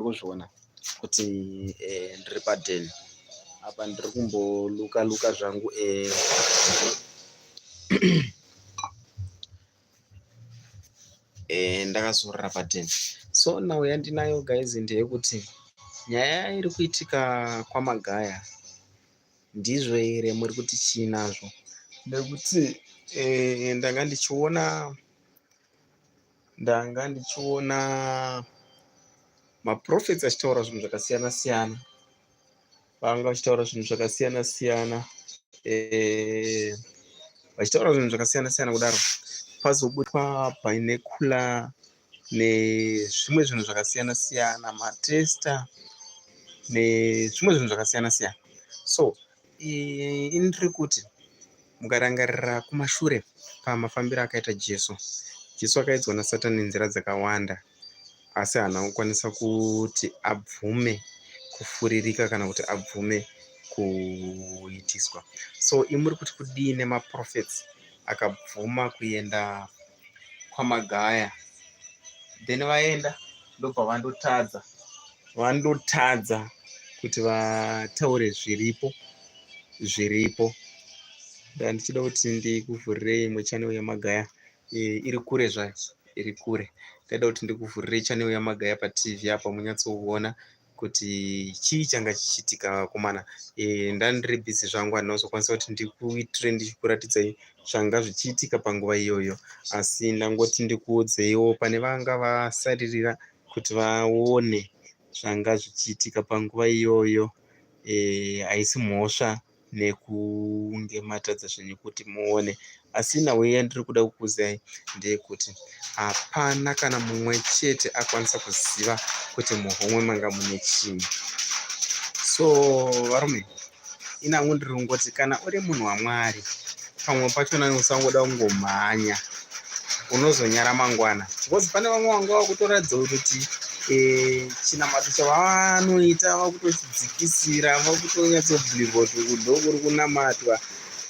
kuzviona kuti eh, ndiri paden apa ndiri kumboluka luka zvangu eh, eh, ndakazorora paden so nhau yandinayo guys ndeyekuti nyaya iri kuitika kwamagaya ndizvo here muri kuti chii nazvo nekuti eh, ndanga ndichiona ndanga ndichiona maprofets achitaura zvinhu zvakasiyana siyana vanga vachitaura zvinhu zvakasiyana siyana eh, vachitaura zvinhu zvakasiyana siyana kudaro pazobutwa painekula nezvimwe zvinhu zvakasiyana siyana matesta nezvimwe zvinhu zvakasiyana siyana so ini ndiri kuti mukarangarira kumashure pamafambiro akaita jesu jesu akaidzwa nasatani nenzira dzakawanda asi haana kukwanisa kuti abvume kufuririka kana kuti abvume kuitiswa so imuri kuti kudii nemaprofets akabvuma kuenda kwaMagaya then vaenda ndobva vandotadza vandotadza kuti vataure zviripo zviripo ndaa ndichida kuti ndikuvhurirei imwe chanel yamagaya eh, iri kure zvayo iri kure ndaida kuti ndikuvhurirei chanel yamagaya patv apa munyatsoona kuti chii changa chichiitika vakomana eh, ndandiri busy zvangu handina kuzokwanisa kuti ndikuitire ndichikuratidzai zvanga zvichiitika panguva iyoyo asi ndangoti ndikuudzeiwo pane vanga vasaririra kuti vaone zvanga zvichiitika panguva iyoyo eh, haisi mhosva nekunge matadza zvenyu kuti muone asi nhau yandiri kuda kukuzai ndeyekuti hapana kana mumwe chete akwanisa kuziva kuti muhomwe manga mune chii so varume inangu ndiri kungoti kana uri munhu wamwari pamwe pachona usangoda kungomhanya unozonyara mangwana because pane vamwe vanga vakutoratidza kuti eh, chinamato chavanoita vakutochidzikisira vakutonyatsobhilivha kuti kudo kuri kunamatwa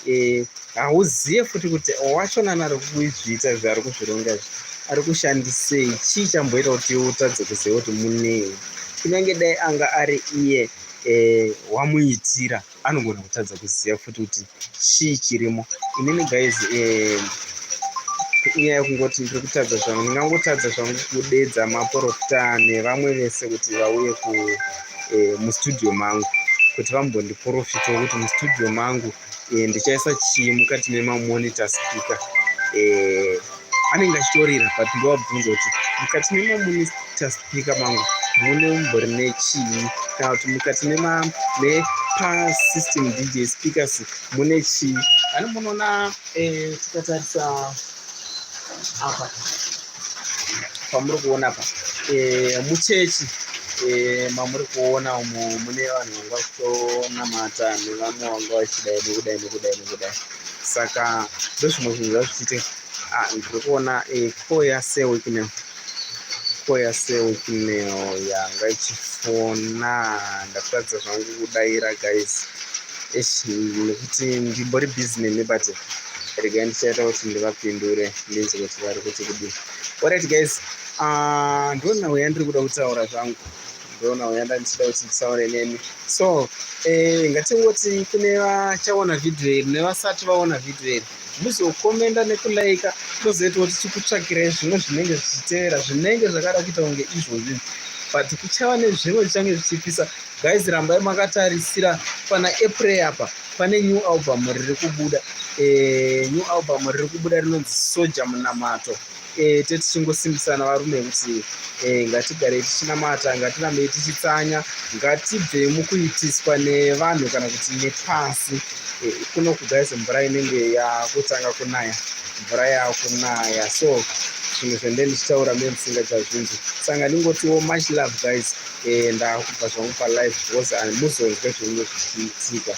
eh, hauzive futi kuti wachonana ari kuzviita zvaari kuzvironga zvi ari kushandisei chii chamboita kuti utadze kuziva kuti munei kunyange dai anga ari iye eh, wamuitira e, anogona kutadza kuziva futi kuti chii chirimo inini guys eh, inyaya yekungoti ndiri kutadza zvangu ndingangotadza zvangu kudedza maporofita nevamwe vese kuti vauye ku eh, mustudio mangu kuti vambondiporofita wekuti mustudio mangu eh, ndichaisa chii mukati memamonita speaker anenge achitorira but ndovabvunza kuti mukati memaminista speaker mangu mune umbori nechii kana kuti mukati nepasystem dj speakers mune chii ani munoona eh, tikatarisa apa pamuri kuona apa eh, muchechi eh, mamuri kuona umo mune vanhu vanga vachitonamata nevamwe vanga vachidai nekudai nekudai nekudai saka ndozvimwe zvinhu zvazvichiti ah, ndiri kuona eh, koya sewiknel koya sewiknel yanga ichifona ndakutadza zvangu kudaira guys esh nekuti ndimbori busy nemi but regai ndichaita kuti ndivapindure ndinzi kuti vari kuti kudii orit guys ah, ndona weya ndiri kuda kutaura zvangu ndoona uya ndandisida kuti ndisaone neni so eh, ngatingoti kune vachaona vhidhiyo iri nevasati vaona vhidhiyo iri muzokomenda nekulaika tozoita kuti tikutsvakirai zvimwe zvinenge zvichitevera zvinenge zvakada kuita kunge izvozvi but kuchava nezvimwe zvichange zvichipisa guys rambai makatarisira pana april apa pane new album riri kubuda eh, new album riri kubuda rinonzi soja munamato e, tetichingosimbisana varume kuti e, ngatigarei tichinamata ngatirambei tichitsanya ngatibvei mukuitiswa nevanhu kana kuti nepasi e, kuno kugaiz mvura inenge yakutanga kunaya mvura yakunaya so zvinhu zvende ndichitaura me musingachazvinzi sanga ndingotiwo much love guys e, ndakubva zvangu palive because hamuzonzwe zvinhu zvichiitika